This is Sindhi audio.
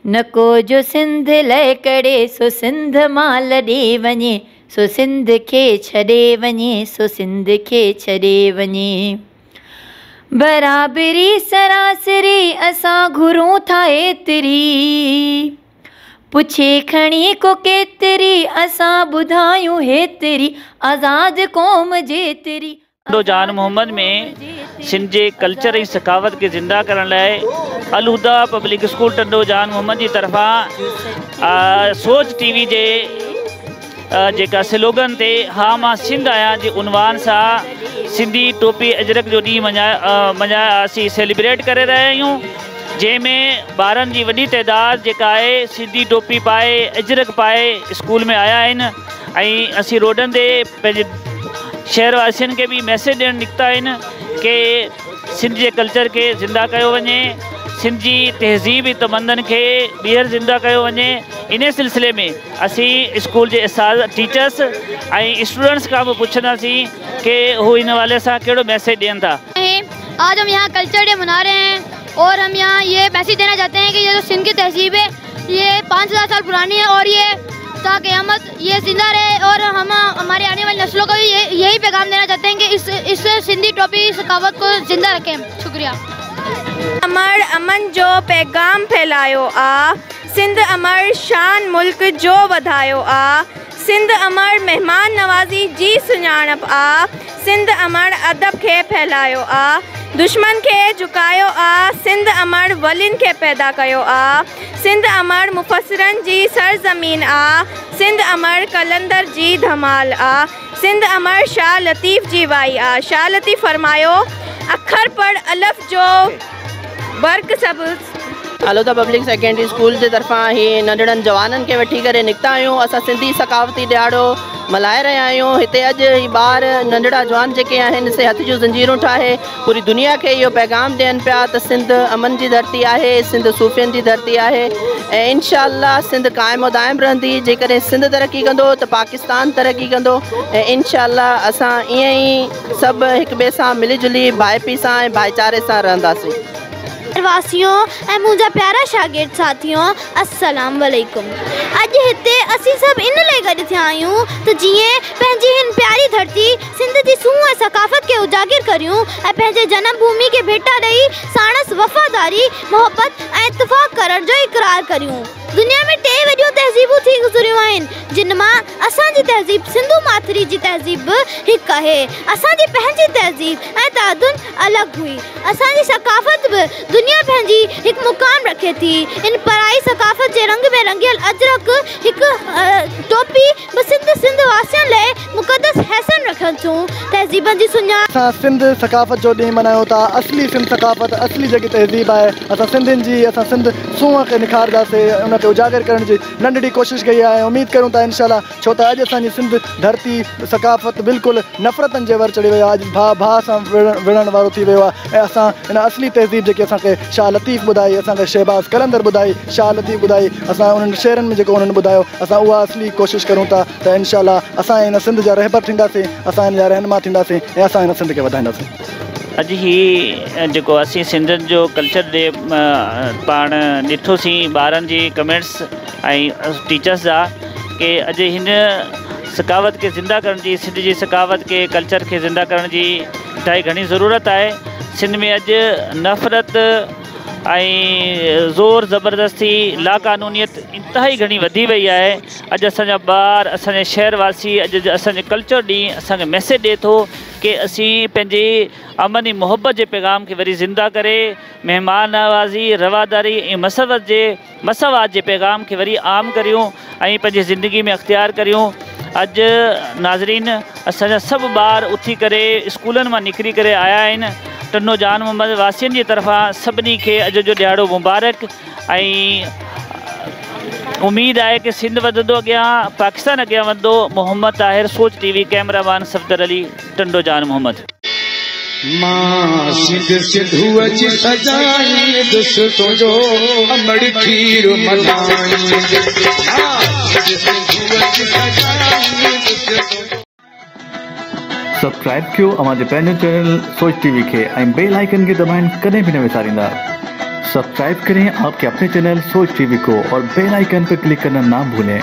نڪو جو سنڌ لهڪڙي سو سنڌ مان لڏي وڃي سو سنڌ کي ڇڏي وڃي سو سنڌ کي ڇڏي وڃي برابري سراسري اسان گهرون ٿا ايتري. پڇي کڻي ڪو ڪيتري، اسان ٻڌايون هيتري، آزاد قوم جيتري. ڪنڊو جان محمد ۾ سنڌ جي ڪلچر ۽ ثقافت کي زنده ڪرڻ لاء الهديٰ پبلڪ اسڪول ٽنڊو جان محمد جي طرفان سوچ ٽي وي جي. جيڪا سلوگن تي ها مان سنڌ آهيان جي عنوان سان سنڌي ٽوپي اجرڪ جو ڏينهن مڃايا اسين سيليبريٽ ڪري رهيا آهيون جنهن ۾ ٻارن جي وڏي تعداد جيڪا آهي سنڌي ٽوپي پائي اجرڪ پائي اسڪول ۾ آيا آهن ۽ اسين روڊن تي پنهنجي شهر واسين کي به ميسيج ڏيڻ نڪتا آهن ڪي سنڌ جي ڪلچر کي زنده ڪيو وڃي سنڌ جي تهذيب تمندن کي ٻيهر زنده ڪيو وڃي انهي سلسلي ۾ اسين اسڪول جي اساتذه، ٽيچرس ۽ اسٽوڊنٽس کان به پڇنداسين ڪي هو ان حوالي سان ڪهڙو ميسيج ڏين ٿا. آهي آج هم يهان ڪلچر ڊي منا رهي هين اور هم يهان يي ميسيج دينا چاهتي هين ڪي يي جو سنڌ ڪي تهذيب هي يي پانچ هزار سال پراني هي اور يي تا قيامت يي زنده رهي اور هم هماري آني والي نسلون ڪو بي يهي پيغام دينا چاهتي هين ڪي اس اس سنڌي ٽوپي ثقافت ڪو زنده رکين شڪريا. امڙ امن جو پيغام ڦهلايو آ. سنڌ امڙ شان ملڪ جو وڌايو آ. سنڌ امڙ مهمان نوازي جي سڃاڻپ آ. سنڌ امڙ ادب کي ڦهلايو آ. دشمن کي جهڪايو آ. سنڌ امڙ ولين کي پيدا ڪيو آ. سنڌ امڙ مفسرن جي سرزمين آ. سنڌ امڙ قلندر جي ڌمال آ. سنڌ امڙ شاهه لطيف جي وائي آ. شاهه لطيف فرمايو، اکر پڙهه الف جو برق سبز. هالودا پبلڪ سيڪنڊري اسڪول جي طرفان هي ننڍڙن جوانن کي وٺي ڪري نڪتا آهيون اسان سنڌي ثقافتي ڏهاڙو ملهائي رهيا آهيون هتي اڄ هي ٻار ننڍڙا جوان جيڪي آهن سي هٿ جون زنجيرون ٺاهي پوري دنيا کي اهو پيغام ڏين پيا ته سنڌ امن جي ڌرتي آهي سنڌ صوفين جي ڌرتي آهي ۽ انشاء الله سنڌ قائم و دائم رهندي جيڪڏهن سنڌ ترقي ڪندو ته پاڪستان ترقي ڪندو ۽ انشاء الله اسان ائين ئي سڀ هڪ ٻئي سان ملي جلي ڀائپي سان ۽ ڀائيچاري سان رهنداسين شهر واسيون ۽ منهنجا پيارا شاگرد ساٿيون السلام عليڪم اڄ هتي اسين سڀ ان لئي گڏ ٿيا آهيون ته جيئن پنهنجي هن پياري ڌرتي سنڌ جي سونهن ۽ ثقافت کي اجاگر ڪريون ۽ پنهنجي جنم ڀومي کي ڀيٽا ڏئي ساڻس وفاداري محبت ۽ اتفاق ڪرڻ جو اقرار ڪريون دنيا ۾ ٽي وڏيون تهذيبون ٿي گذريون آهن جن مان اسان جي تهذيب سنڌو ماٿري جي تهذيب به هڪ آهي اسان جي پنهنجي تهذيب ۽ تعدن الڳ هئي. اسان جي ثقافت به دنيا پنهنجي هڪ مقام رکي ٿي. ان پرائي ثقافت جي رنگ ۾ رنگيل اجرڪ هڪ ٽوپي به سنڌ سنڌ واسين لئه مقدس حيثن رکن ٿيون. تهذيبن جي سڃاڻپ. اسان سنڌ ثقافت جو ڏينهن ملهايون ٿا. اصلي سنڌ ثقافت اصلي جيڪي تهذيب آهي اسان سنڌين جي اسان سنڌ سونهن کي نکارداسي ان کي اجاگر ڪرڻ جي ننڍڙي ڪوشش ڪئي آهي اميد ڪريون ٿا انشاء الله ڇو ته اڄ اسان جي سنڌ ڌرتي، ثقافت بلڪل نفرتن جي ور چڙهي ويو آهي، اڄ ڀاء ڀاء سان وڙهڻ وارو ٿي ويو آهي ۽ اسان ان اصلي تهذيب جيڪي اسان کي شاهه لطيف ٻڌائي، اسان کي شهباز قلندر ٻڌائي، شاهه لطيف ٻڌائي، اسان انهن شعرن ۾ جيڪو انهن ٻڌايو اسان اها اصلي ڪوشش ڪريون ٿا ته انشاء الله اسان ان سنڌ جا رهبر ٿينداسين، اسان ان جا رهنما ٿينداسين ۽ اسان ان سنڌ کي وڌائينداسين. اڄ هي جيڪو اسين سنڌين جو ڪلچر ڏي پاڻ ڏٺوسين ٻارن جي ڪمينٽس ۽ ٽيچرس جا، ڪي اڄ هن ثقافت کي زنده ڪرڻ جي سنڌ جي ثقافت کي ڪلچر کي زنده ڪرڻ جي انتهائي گهڻي ضرورت آهي سنڌ ۾ اڄ نفرت ۽ زور زبردستي لا قانونيت انتهائي گهڻي وڌي وئي آهي اڄ اسانجا ٻار اسانجا شهر واسي اڄ اسانجي ڪلچر ڏينهن اسانکي ميسيج ڏي ٿو ڪي اسين پنهنجي امن ۽ محبت جي پيغام کي وري زنده ڪري مهمان نوازي رواداري ۽ مسرت جي مساوات جي پيغام کي وري عام ڪريون ۽ پنهنجي زندگي ۾ اختيار ڪريون اڄ ناظرين اسان جا سڀ ٻار اٿي ڪري اسڪولن مان نڪري ڪري آيا آهن ٽنڊو جان محمد واسين جي طرفان سڀني کي اڄ جو ڏهاڙو مبارڪ ۽ اميد آهي ڪي سنڌ وڌندو اڳيان پاڪستان اڳيان وڌندو Muhammad Tahir Soch T V camera مان صفدر علي ٽنڊو جان محمد. مان سنڌ سنڌوء جي سجائيندس تنهنجو امڙ کير ملهائيندس. سبسڪرائب ڪيو اوهان جي پنهنجو چينل سوچ ٽي وي کي ۽ بيل آئيڪن کي دٻائڻ ڪڏهن به نه وساريندا سبسڪرائب ڪرين آپ ڪي اپني چينل سوچ ٽي وي ڪو اور بيل آئيڪن پر ڪلڪ ڪرنا نا ڀولين.